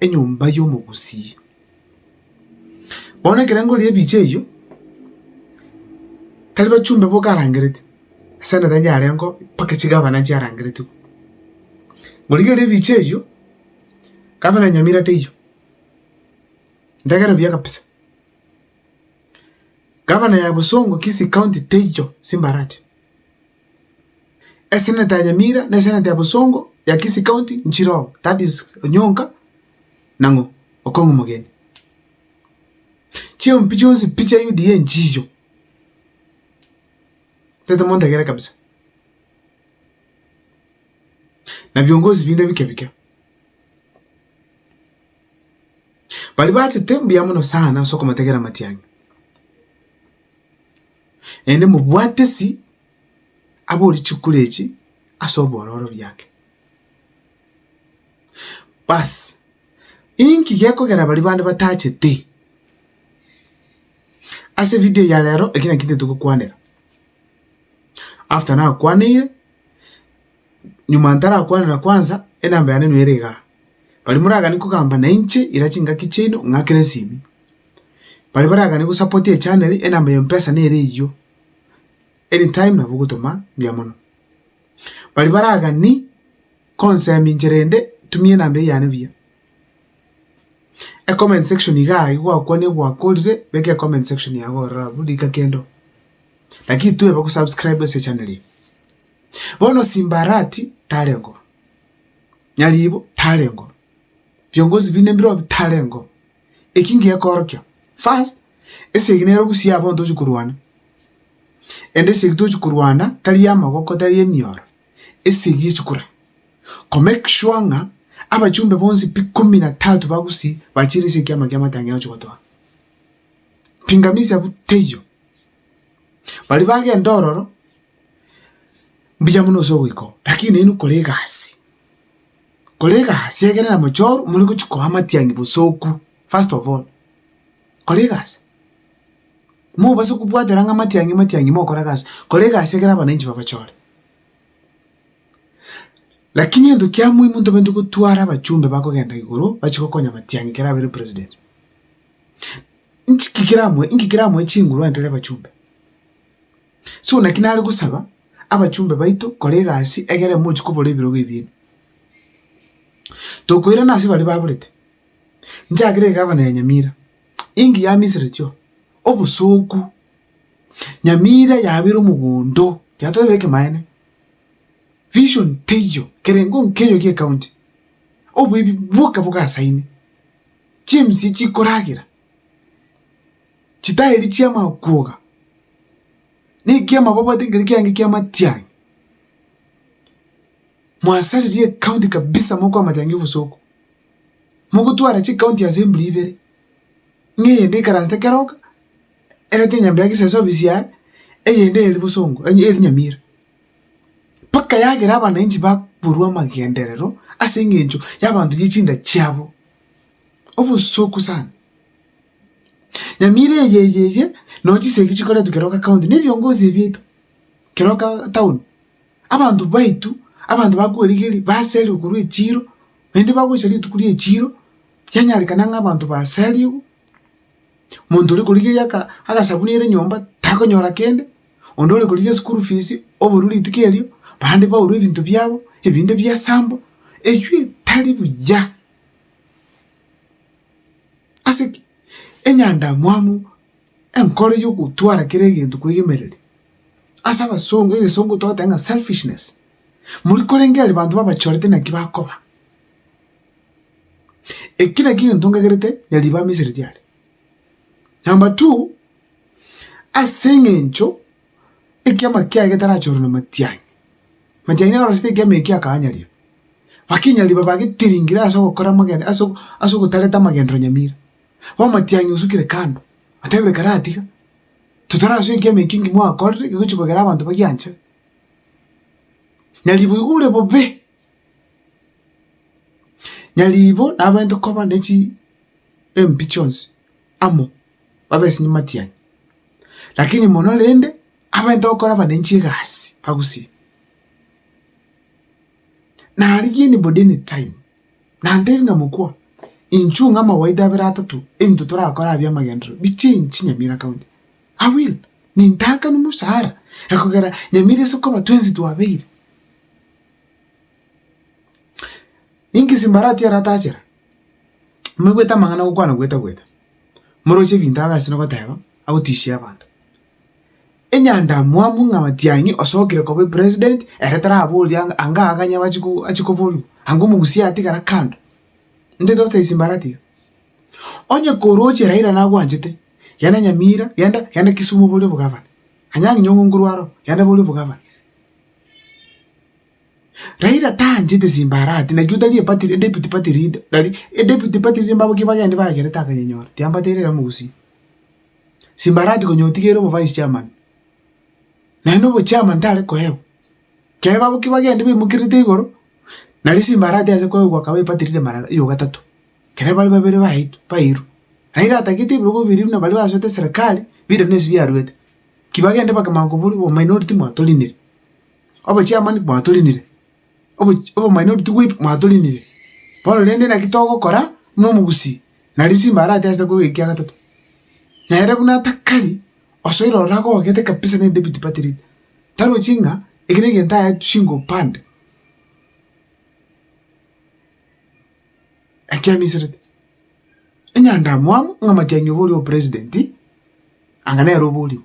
enyomba y'omogusii. Bono ekerengo erio ebiche eyio, tari bachumbe boka arangerete, esende tari yarengeo mpaka chigabana chiarangeretwe. Gorigereria ebiche eyio, gavana ya Nyamira teiyo, ntegera buya kabisa. Gavana ya Bosongo, Kisii County, teiyo, Simbarati. Eseneta ya Nyamira na eseneta ya Bosongo ya Kisii County nchire oo, that is Onyonka na ng'o? Okong'u Omogeni. Chiompi chionsi pi chia UDA nchiicho. Tete monto egere kabisa. Na viongozi binde bike bike. Bari bachete mbuya mono sana ase okomotegera amatiang'i. naende mobwatesi abori chikura echi ase obororo biake. Baasi, inki gekogera baria bande batachete? Ase ebidio eyi ya rero, eki nakio ntogokoanera. After nakwaneire. nyuma ntarakwanera kwansa, enamba yane nere iga. Baria moragane kogamba na inche ira chingaki chiaino ng'akere esimi. Baria baragane gosupport echanero enamba ya mpesa nere eyio, anytime nabo ogotoma mbuya mono. Baria baragani konsemi inche rende tumia enamba eyio yane buya. Ecomment section iga aye gwakwanire gwakorire beka ecomment section yago ororo abwo rika kendo. Lakini toeba gosubscribe ase echanero eye. Bono Simbarati tareng'o, nyaribo tareng'o, biongozi binde mbirobi tareng'o. Eki ngekoorokia, first, esegi nero gusii abwo ntochi korwana, ende esegi tochi korwana tari y'amaboko tari y'emioro, esegi echikura, ko make sure ng'a abachumbe bonsi pi ikomi na tatu ba gusii bachire ase ekiama ki'amatang'e ochi gotoa. Pingamizi abwo teiyo. Baria bagenda ororo. Mbuya buna ase ogoika oo, lakini nainwe kora egasi, kora egasi egere na mochoro more gochia koa amatiang'i bosoku, first of all, kora egasi, mobase kobwatera ng'a amatiang'i amatiang'i mokora egasi, kora egasi egere abananchi babachore. Lakini egento kia muhimu ntobwenerete gotwara abachumbe bakogenda igoro bachia gokonya amatiang'i ekero abeire president. Nchiki keramoe inki keramoe chinguru ande tari abachumbe. So naki nare gosaba abachumbe baito kora egasi egere emochie kobora ebirogo ebiino. Tokoirana ase baria baborete, nchakere egavana ya Nyamira, enki yamiseretio, obosooku, Nyamira yabire omogondo, yatoebe ekemaene, vision teiyo, kerengo nkeiyo gie county, oboibi bwoka bogasaine, chiemsie chikoragera. chitaeri chi'amakwoga, na ekiama babwate nkere kiange ki'amatiangi, mwasaririe ekaunti kabisa mokoa amatiangi obosooku, mogotwara chikaunti ase mbula ibere, ng'a eyende ekaransete keroka, erente enyambe ya geseso ofisi yaye, eyende eri bosongo onye eri Nyamira. Mpaka yagera abananchi bakorwa amagenderero ase eng'encho y'abanto ye chinda chiabo. obosooku sana. Nyamira eye eye eye nonya chisegi chikoretwa kero ka county ne ebiongozi bieito, kero ka town, abanto baito, abanto bakwerigeria baserire korwa echiro, naende bagocha rituko ria echiro, kianyarekana ng'a abanto baserigwe, monto ore korigeria aka agasabuni ere nyomba takonyora kende, onde ore korigia eschool fees oborwe rituko erio, bande baurwe ebinto biabo, ebinde biasambwa, eywo etari buya. Ase ki? Enyandamwamu enkoro y'ogotwara kera egento kwegemereria. Ase abasongo, egesongo togoteba ng'a selfishness. Moria korenge aria banto babachorete naki bakoba. Eki naki egento nkagerete na ribaga Misiri riaria. Number two, ase eng'encho ekiama kiaye getarachorwa namatianyi. Amatianyi nigo arosete ekiama ekio akaanyaria, bakinya riba bagetiringire ase ogokora amagendo ase ase ogotarete amagenderero nyamira. Bono amatianyi osukire kando, otebire karatiga, totorasoe ekiama ekio nki mwakorire kegochi kogera abanto bagianchire. Nyaribo igo ore bobe, nyaribo nabaente koba nechi embi chionsi amo. babe ase nyimati yanyu, lakini mono rende abaminto bakoraba nainche egasi bagusie. Na rigiya nigo deni time, nantebie ng'a mokwa, inchuo ng'a amawaidha abere atato ebinto torakore aa bi'amagenderero bichenchi Nyamira County. I will, nintaakani mosaara na kogera Nyamira ase okoba twensi twabeire. Inki Simbarati aratachere? Moigwete amang'ana gokwana gweta gweta. moroche ebinto abe ase nogoteba, agotishia abanto. Enyandamwamu ng'a matiang'i osokire koba epresident, ere taraboria ng'a anga akanya bachi ko achi koborio, anga omogusii atigara kando, intwe togosae ase mbara tiga. Onye koroche Raila nagwanchete, genda Nyamira, genda genda Kisumu obore obogavana. Anyang'inye ong'ongorwa aro, genda obore obogavana. Raila tanchete simbarati naki otari epati deputy party leader nari deputy party leader mbabo ki bagende bagerete akanyenyora tiambateire ere mogusii. Simbarati konya otige ere obo vice chairman naende obo chairman tare koewa kere babo ki bagende baimokerete igoro nari simbarati ase koegwa akaba epati leader mara ya gatato kere bare babere baito bairwe. Raila atagete ebirogo biri buna baria basoete serikali bire na ase biaruete ki bagende bakamanya kobori obo minority mwatorinire. Obochiamani bwatorinire, obochi obomanene obotugi bwaito mwatorinire, bono rende naki togokora buna omogusii na risimba aratesete koba ekiya gatato. Nere buna atakari osoiro ororo agogete kabisa ne David Patrick, tarochi ng'a eke negento aetu shingo upande. Ekia miserete, enyandamwamu ng'a matiang'i oboria obopresident, anga nere oborigwe.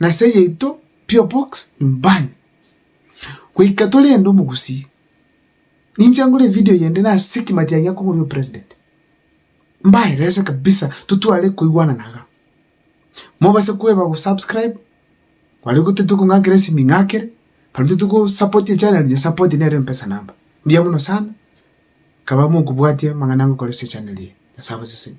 Nase yaito pure box nyumbani. Goika torende omogusii. Ninche ngore evideo yende nase kimatia gia koboria opresident. Mbaerese kabisa totware koigwanana iga. Mobase koeba go subscribe baria gotete kong'akera esimi ing'akere, baria totete go support echanero nyesupport nere empesa number. Mbuya mono sana kaba mokobwatia amang'ana ngokora ase echanero eye. Nyasae abasesenie.